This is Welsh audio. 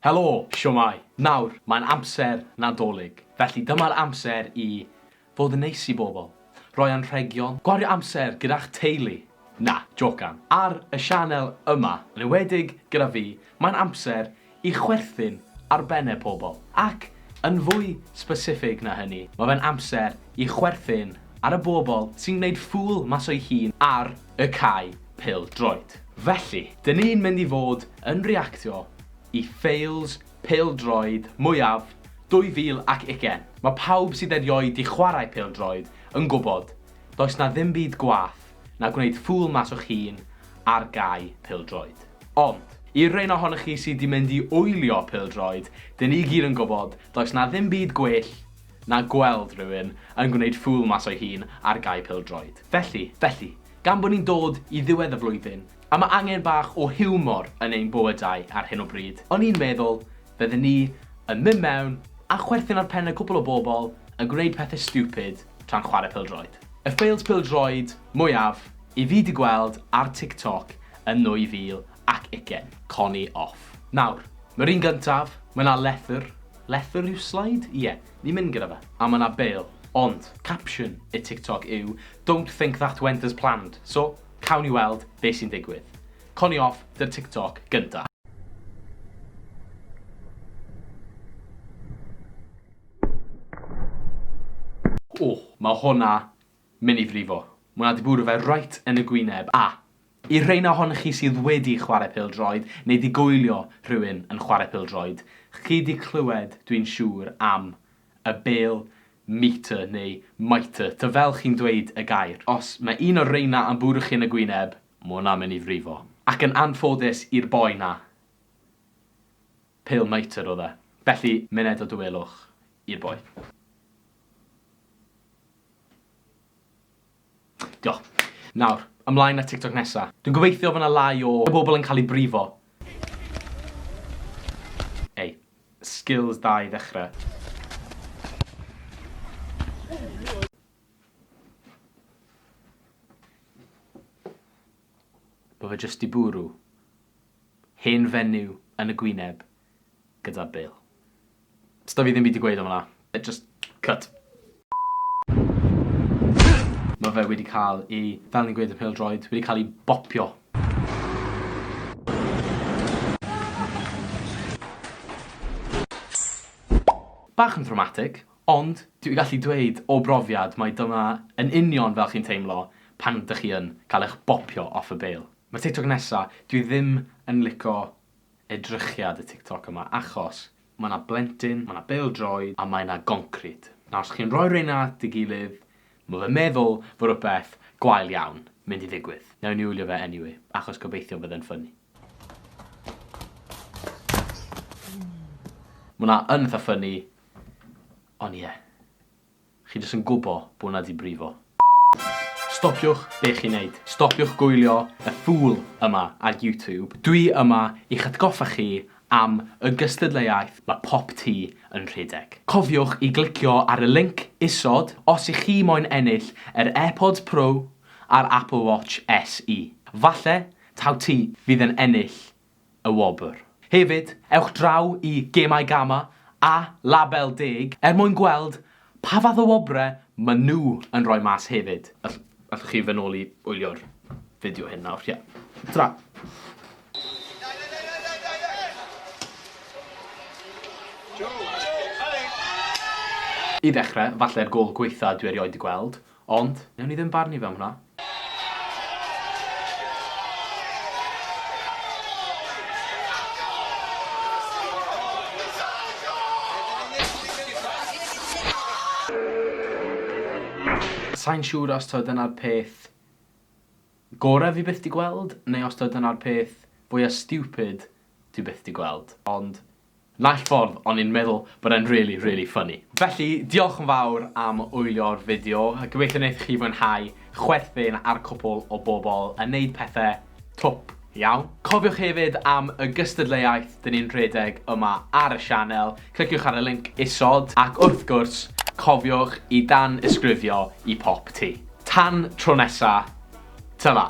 Helo! Shwmae! Nawr, mae'n amser Nadolig, felly dyma'r amser i fod yn neis i bobl, rhoi anrhegion, gwario amser gyda'ch teulu, na, jocan, ar y sianel yma, yn enwedig gyda fi, mae'n amser i chwerthin ar benne pobl, ac yn fwy specific na hynny, mae fe'n amser i chwerthin ar y bobl sy'n gwneud ffŵl mas o'i hun ar y cae pêl droed. Felly, dyn ni'n mynd i fod yn reactio i ffeils pêl droed mwyaf 2020. Mae pawb sydd erioed di chwarae pêl droed yn gwybod does na ddim byd gwaeth na gwneud ffŵl mas o'ch hun ar gae pêl droed. Ond, i'r rhein ohonoch chi sydd di mynd i wylio pêl droed, dyn ni gyd yn gwybod does na ddim byd gwell na gweld rhywun yn gwneud ffŵl mas o'i hun ar gae pêl-droed. Felly, felly, gan bod ni'n dod i ddiwedd y flwyddyn, a ma' angen bach o hiwmor yn ein bywydau ar hyn o bryd, o'n i'n meddwl fydden ni yn mynd mewn a chwerthin ar penne cwpl o bobl yn gwneud pethe stupid tra'n chware pêl-droed. Y ffeils pêl-droed mwyaf i fi 'di gweld ar TikTok yn 2000 Ac ugen. Connie off. Nawr, mae'r un gyntaf, mae 'na lethr, lethr yw slide? Ie, ni'n mynd gyda fe. A mae 'na bêl. Ond, capsiwn y TikTok yw Don't think that went as planned. So, cawn ni weld be sy'n digwydd. Connie off, dy'r TikTok gynta. O, mae hwnna mynd i frifo. Mae hwnna 'di bwrw fe reit yn y gwyneb. A, I'r rheina ohonoch chi sydd wedi chwarae pêl-droed neu 'di goelio rhywun yn chwarae pêl-droed, chi 'di clywed, dwi'n siŵr, am y bêl mitre neu mitre, ta fel chi'n dweud y gair. Os mae un o'r rheina am bwrw chi yn y gwyneb, ma' hwnna'n mynd i frifo. Ac yn anffodus i'r boi 'na, pêl mitre oedd e. Felly, myned o dawelwch i'r boi. Diolch. Nawr, ymlaen at TikTok nesa. Dwi'n gobeithio fod 'na lai o bobl yn cael eu brifo. Ei, skills da i ddechre. Bo fe jyst 'di bwrw. Hen fenyw yn y gwyneb gyda Bill. Sda fi ddim byd i gweud am hwnna. It just cut. Mae fe wedi cael ei, fel ni'n gweud yn pêl-droed, wedi cael ei bopio. Bach yn ddramatig, ond dwi gallu dweud o brofiad mai dyma yn union fel chi'n teimlo pan dych chi yn cael eich bopio off y bale. Ma'r tiktok nesa, dwi ddim yn lico edrychiad y tiktok yma achos ma' 'na blentyn, ma' 'na bêl-droed a mae 'na goncrid. Nawr os chi'n rhoi reina at ei gilydd, ma' fe'n meddwl fo' rwbeth gwael iawn mynd i ddigwydd. Newn ni wylio fe anyway, achos gobeithio fydd e'n ffyni. Ma' 'na yn itha ffyni, ond ie. Chi jyst yn gwbo bo 'na di brifo. Stopiwch be chi'n neud. Stopiwch gwylio y ffŵl yma ar YouTube. Dwi yma i'ch atgoffa chi am y gystadleuaeth ma pop tu yn rhedeg. Cofiwch i glicio ar y linc isod os i chi moyn ennill yr AirPods Pro a'r Apple Watch SE. Falle taw ti fydd yn ennill y wobr. Hefyd, ewch draw i Gemau Gama a Label Deg er mwyn gweld pa fath o wobrau maen nhw yn rhoi mas hefyd. Allwch chi fy nôl i wylio'r fideo hyn nawr? Ie. Tara! I ddechrau, falle'r gôl gwaetha dwi erioed 'di gweld, Ond, newn ni ddim barnu fe am hwnna. Sai'n siŵr os taw dyna'r peth gorau fi byth 'di gweld, neu os taw dyna'r peth fwya' stupid dwi byth 'di gweld, ond Naill ffordd o'n i'n meddwl bod e'n rili, rili ffyni. Felly, diolch yn fawr am wylio'r fideo. Gobeithio wneith chi fwynhau chwerthin ar cwpwl o bobl yn neud pethe twp iawn. Cofiwch hefyd am y gystadleuaeth 'dyn ni'n rhedeg yma ar y sianel. Cliciwch ar y linc isod, ac wrth gwrs, cofiwch i dan-ysgrifio i pop ti. Tan tro nesa, tara!